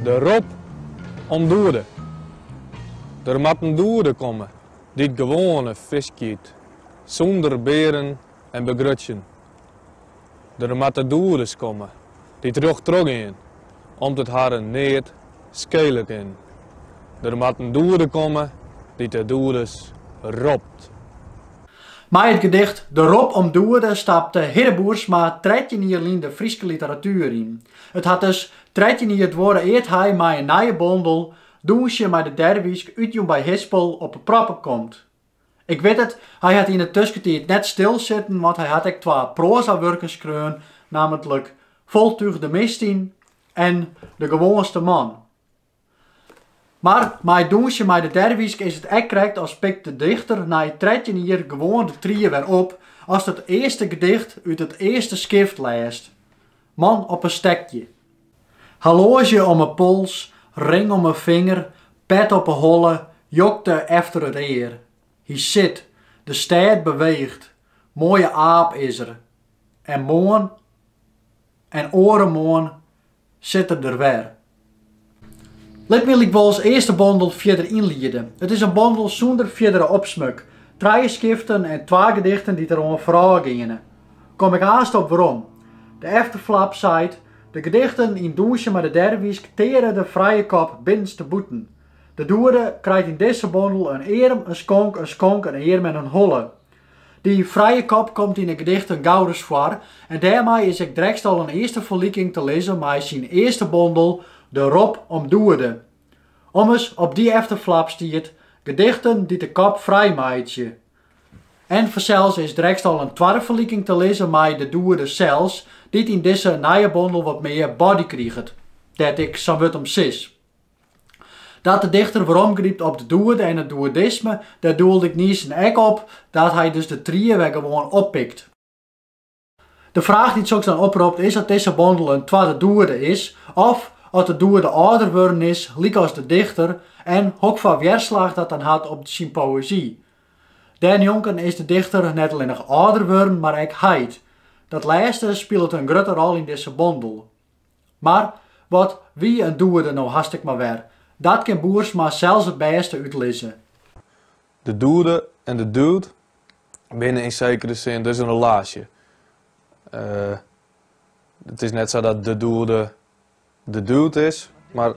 De rop om doede. Der moat in doede komme dy't gewoane fisk yt, sûnder bearen en begrutsjen. Der moatte doedes komme dy't rjocht trochgean, om't it harren neat skele kin. Der moat in doede komme dy't de doedes ropt. Mei it gedicht De rop om doede stapte Hidde Boersma trettjin jier lyn de Fryske literatuer yn. It hat dus trettjin jier duorre ear't hy mei in nije bondel, Dûnsje mei de Derwysk, útjûn by Hispel, op 'e proppen komt. Ik wit it, hy hat yn 'e tusketiid net stil sitten, want hy hat ek twa proazawurken skreaun, nammentlik Voltuch de Mistin en De gewoanste man. Mar mei it Dûnsje mei de derwysk is it ek krekt as pikt de dichter nei trettjin jier gewoan de tried wer op ast it earste gedicht út it earste skift lêst. Man op in stekje. Horloazje om 'e pols, ring om 'e finger, pet op 'e holle, jokte efter it ear. Hy sit, de stêd beweecht, moaie aap is er. En moarn en oaremoarn Sit er der wer. Lit my lykwols earst de bondel fierder ynliede. It is in bondel sûnder fierdere opsmuk, trije skiften en twa gedichten dy't der oan foarôf geane. Kom ik aanst op werom. De efterflap seit, De gedichten yn Dûnsje mei de derwysk teare de frije kop binnenste bûten. De doede krijt yn dizze bondel in earm, in skonk, in skonk, in earm en in holle. Dy frije kop komt yn 'e gedichten gauris foar en dêrmei is ek drekst al in earste ferliking te lizzen mei syn earste bondel De rop om doede. Ommers, op dy efterflap stiet, Gedichten dy't de kop frij meitsje. En fansels is drekst al in twadde ferliking te lizzen mei De doede sels, dy't yn dizze nije bondel wat mear body kriget, dêr't ik sa'n wurd om sis. Dat de dichter weromgrypt op de doede en it doedisme, dêr doelde ik niissa ek op, dat hy dus de tried wer gewoan oppikt. De fraach dy't soks dan opropt is oft dizze bondel in twadde doede is, of oft de doede âlder wurden is, lykas de dichter, en hokfoar wjerslach dat dan hat op syn poëzy. Dêrnjonken is de dichter net allinnich âlder wurden, mar ek heit. Dat lêste spilet in grutte rol yn dizze bondel. Mar wat wie in doede no hast ek mar wer. Dat kin Boersma sels it bêste útlizze. De doede en de dude binne yn sekere sin dus in relaasje. It is net sa dat de doede de dude is, mar.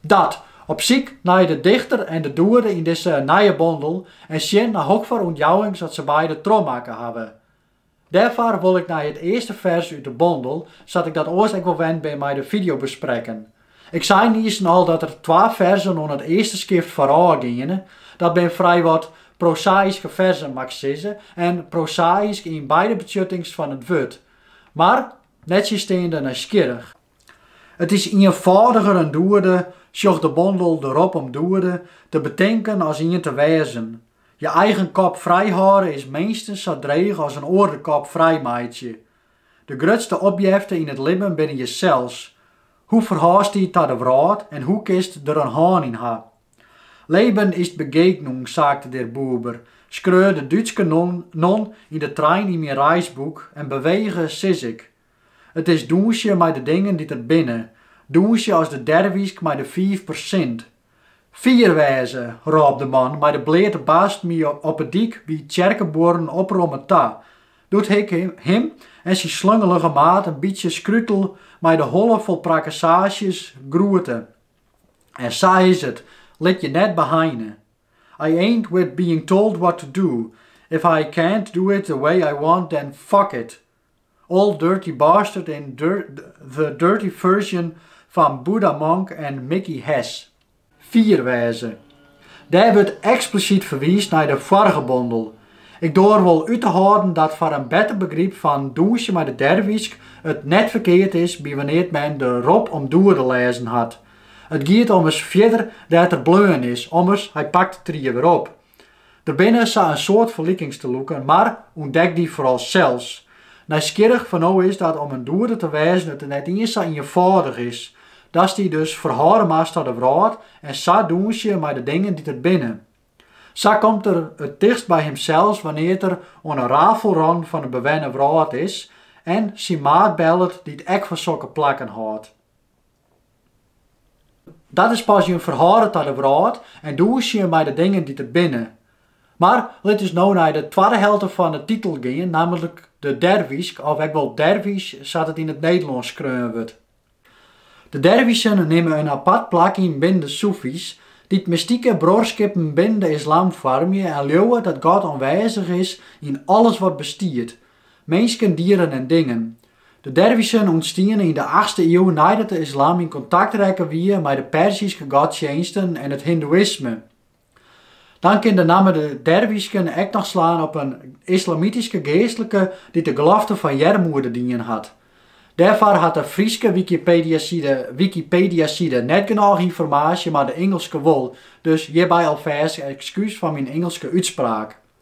Dat, op syk nei de dichter en de doerde yn dizze nije bondel en sjen nei hokker ûntjouwings dat se beide trochmakke hawwe. Dêrfoar wol ik nei it earste fers út de bondel, sa't ik dat oars ek wol wend bin mei de fideo besprekken. Ik sei niisten al dat der twa ferzen oan it earste skift foarôf geane. Dat binne frij wat prosaïske ferzen mag ik sizze en prosaïsk yn beide betsjuttings fan it wurd, mar nettsjinsteande nijsgjirrich. It is ienfâldiger in doerde, sjoch de bondel De rop om doerde, te betinken as ien te wêzen. Je eigen kop frijhâlde is minstens sa dreech as in oar de kop frij meitsje. De grutste opjefte yn it libben binne jesels. Hoe ferhâldst dy ta de wrâld en hoe kinst der in hân yn ha? Leben ist Begegnung, sagte der Buber, skreau de Dútske non yn de trein yn myn reisboek en bewege sis ik. It is dûnsje mei de dingen dy't der binne, dûnsje as de derwysk mei de fiif persint. Fier wêze! rôp de man mei de bleate bast my op 'e dyk by Tsjerkebuorren opromme ta, doe't ik him en syn slungelige maat in bytsje skrutel mei de holle fol prakkesaasjes groete. En sa is it, lit je net beheine. I ain't with being told what to do, if I can't do it the way I want then fuck it! Ol' Dirty Bastard yn The Dirty Version fan Buddha Monk en Mickey Hess. Fier wêze. Dêr wurdt eksplisyt ferwiisd nei de foarige bondel. Ik doar wol út te hâlden dat foar in better begryp fan Dûnsje mei de Derwysk it net ferkeard is bywannear't men De rop om doerde lêzen hat. It giet ommers fierder dêr't er bleaun is, ommers, hy pakt de trie wer op. Der binne sa in soad ferlikings te lûken, mar ûntdek dy foaral sels. Nijsgjirrich foar no is dat om in doerder te wêzen it net iens sa ienfâldich is. Datst dy dus ferhâlde moatst ta de wrâld en sa dûnsje mei de dingen dy't der binne. Sa komt er it tichtst by himsels wannear't er oan in rafelrâne fan de bewenne wrâld is en syn maat bellet dy't ek fan sokke plakken hâldt. Dat is pas jin ferhâlde ta de wrâld en dûnsjen mei de dingen dy't der binne. Mar lit ús no nei de twadde helte fan de titel gean, nammentlik de derwysk, of ek wol derwys sa't it yn it Nederlânsk skreaun wurdt. De derwysen nimme in apart plak yn binnen de soefy's, dy't mystike bruorskippen binnen de islam foarmje en leauwe dat God oanwêzich is yn alles wat bestiet, Minsken, dieren en dingen. De derwisjen ûntstiene yn de achtste iuw neidat de islam yn kontakt rekke wie mei de Perzyske godsjinsten en it hindoeïsme. Dan kin de namme de derwysken ek noch slaan op in islamityske geastlike dy't de gelofte fan earmoede dien hat. Dêrfoar hat de Fryske Wikipediaside net genôch ynformaasje mar de Ingelske wol, dus hjirby alfêst ekskús foar myn Ingelske útspraak.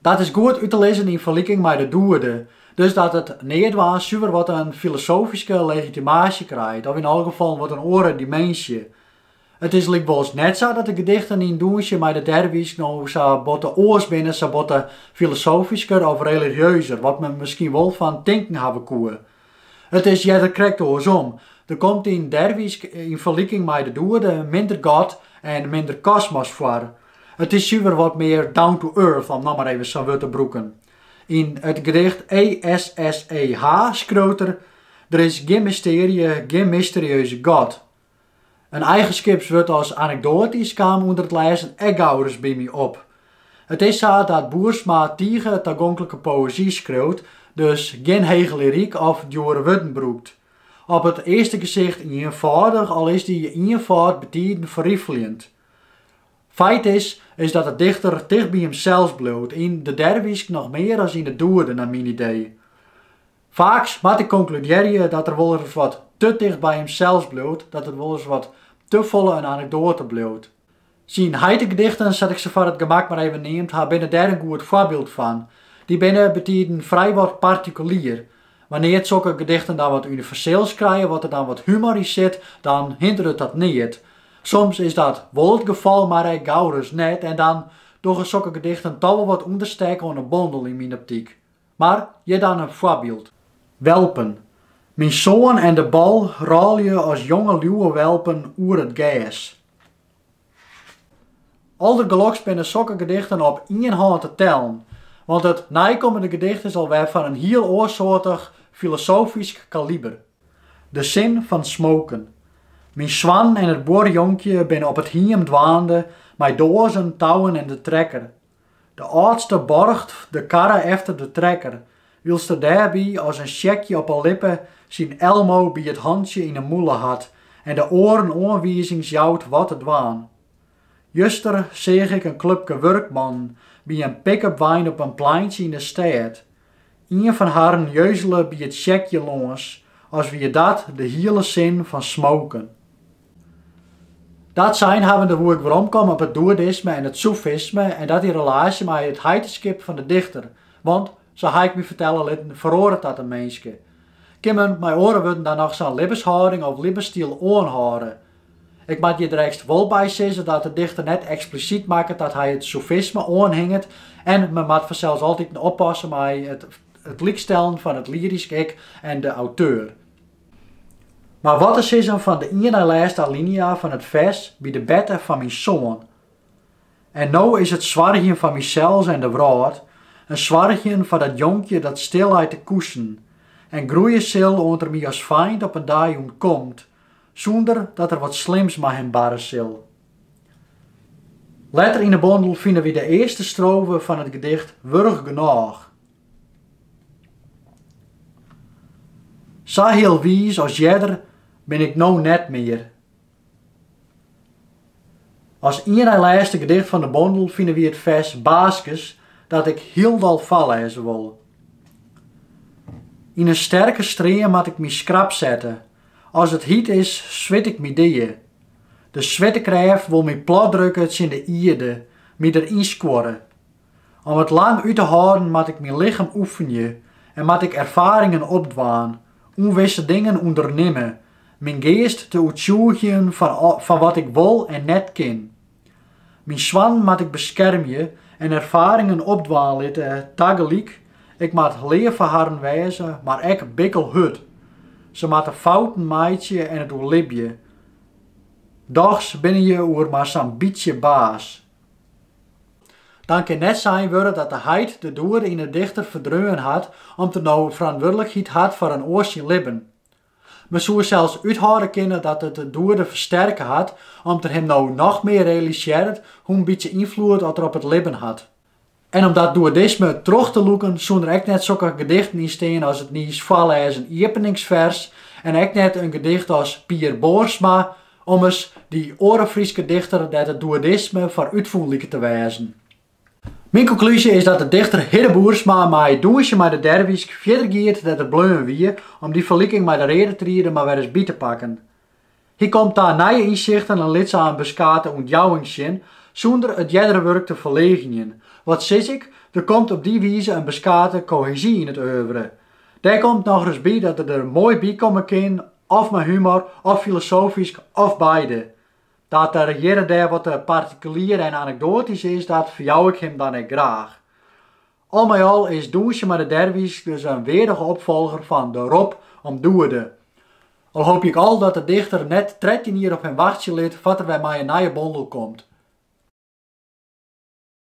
Dat is goed út te lizzen yn ferliking mei de Doerde, dus dat it neatdwaan suver wat in filosofyske legitimaasje krijt, of yn alle gefallen wat in oare dimensie. It is lykwols net sa dat de gedichten yn Dûnsje mei de derwysk no sa botte oars binne, sa botte filosofysker of religieuzer, wat men miskien wol fan tinken hawwe koe. It is earder krekt oarsom. Der komt yn Derwysk yn ferliking mei de Doerde minder God en minder kosmos foar. It is suver wat mear down to earth, om no mar even sa'n wurd te brûken. Yn it gedicht ESSEH skriuwt er, Der is gjin mystearje, gjin mysterieuze God. In eigenskipswurd as anekdoatysk kaam ûnder it lêzen ek gauris by my op. It is sa dat Boersma tige tagonklike poëzy skriuwt, dus gjin hege lyryk of djoere wurden brûkt. Op it earste gesicht ienfâldich, al is dy ienfâld betiden ferrifeljend. Feit is, is dat de dichter ticht by himsels bliuwt, yn de derwysk noch mear as yn de Doerde, nei myn idee. Faaks moat ik konkludearje dat er wolris wat te ticht by himsels bliuwt, dat it wolris wat te folle in anekdoate bliuwt. Syn heitegedichten, sa't ik se foar it gemak mar even neamd ha, binne dêr in goed foarbyld fan. Dy binne betiden frijwat partikulier. Wannear't sokke gedichten dan wat universeels krije, wat der dan wat humor yn sit, dan hinderet dat neat. Soms is dat wol it gefal, mar ek gauris net, en dan dogge sokke gedichten toch wol wat ûnderstek oan 'e bondel, yn myn optyk. Mar hjir dan in foarbyld. Welpen. Myn soan en de bal rôlje as jonge liuwewelpen oer it gers. Aldergeloks binne sokke gedichten op ien hân te tellen, want it neikommende gedicht is alwer fan in hiel oarsoartich filosofysk kaliber. De sin fan smoken. Myn soan en it buorjonkje binne op it hiem dwaande mei doazen, touwen en de trekker. De âldste borcht de karre efter de trekker, wylst er dêrby as in sjekje op 'e lippe syn Elmo by it hantsje yn 'e mûle hat en de oaren oanwizings jout wat te dwaan. Juster seach ik in klupke wurkmannen by in pick-upwein op in pleintsje yn 'e stêd, Ien fan harren jeuzele by it sjekje lâns as wie dat de hiele sin fan smoken. Dat sein habbende woe ik weromkomme op it dudeïsme en it soefisme en dat yn relaasje mei it heiteskip fan de dichter, want, sa ha ik my fertelle litten, feroaret dat in minske. Kin men mei oare wurden dan noch sa'n libbenshâlding of libbensstyl oanhâlde? Ik moat hjir direkst wol by sizze dat de dichter net eksplisyt makket dat hy it soefisme oanhinget en men moat fansels altiten oppasse mei it lykstellen fan it lyrysk ik en de auteur. Mar wat te sizzen fan de ien nei lêste alinea fan it fers by de berte fan myn soan, En no is it soargjen foar mysels en de wrâld, in soargjen foar dat jonkje dat stil leit te koesen en groeie sil oant er my as feint op in dei ûntkomt, sûnder dat der wat slims mei him barre sil. Letter yn 'e bondel fine wy de earste strofe fan it gedicht Wurch genôch. Sa hiel wiis as earder bin ik no net mear. As ien nei lêste gedicht fan 'e bondel fine wy it fers Baaskes dat ik hielendal foarlêze wol. Yn in sterke stream moat ik my skrap sette, As it hiet is, swit ik my dea. De swiertekrêft wol my platdrukke tsjin de ierde, my der ynskuorre. Om it lang út te hâlden moat ik myn lichem oefenje en moat ik erfaringen opdwaan, ûnwisse dingen ûndernimme, myn geast te oertsjûgjen fan wat ik wol en net kin. Myn soannen moat ik beskermje en erfaringen opdwaan litte, tagelyk, ik moat leaf foar harren wêze, mar ek bikkelhurd. Se moatte fouten meitsje en it oerlibje. Dochs binne je oer mar sa'n bytsje baas. Dan kin net sein wurde dat de heit de dude yn 'e dichter ferdreaun hat om't er no ferantwurdlikheid hat foar in oar syn libben. Men soe sels úthâlde kinne dat it de dude fersterke hat, om't er him no noch mear realisearret hoe'n bytsje ynfloed dat er op it libben hat. En om dat dudeïsme troch te lûken soene der ek net sokke gedichten yn stean as it niis foarlêzen iepeningsfers en ek net in gedicht as Pier Boersma, ommers, dy oare Fryske dichter dêr't it dudeïsme foar útfûn liket te wêzen. Myn konklúzje is dat de dichter Hidde Boersma mei Dûnsje mei de Derwysk fierder giet dêr't er bleaun wie om dy ferliking mei de reade triede mar wer ris by te pakken. Hy komt ta nije ynsichten en lit sa in beskate ûntjouwing sjen sûnder it eardere wurk te ferleagenjen. Wat sis ik, der komt op dy wize in beskate kohezy yn it oeuvre. Dêr komt nochris by dat er der moai by komme kin, of mei humor, of filosofysk, of beide. Dat er hjir en dêr wat te partikelier en anekdoatysk is, dat ferjou ik him dan ek graach. Al mei al is Dûnsje mei de derwisj dus in weardige opfolger fan De Rop om Doede. Al hoopje ik al dat de dichter net trettjin jier op him wachtsje lit foar't er wer mei in nije bondel komt.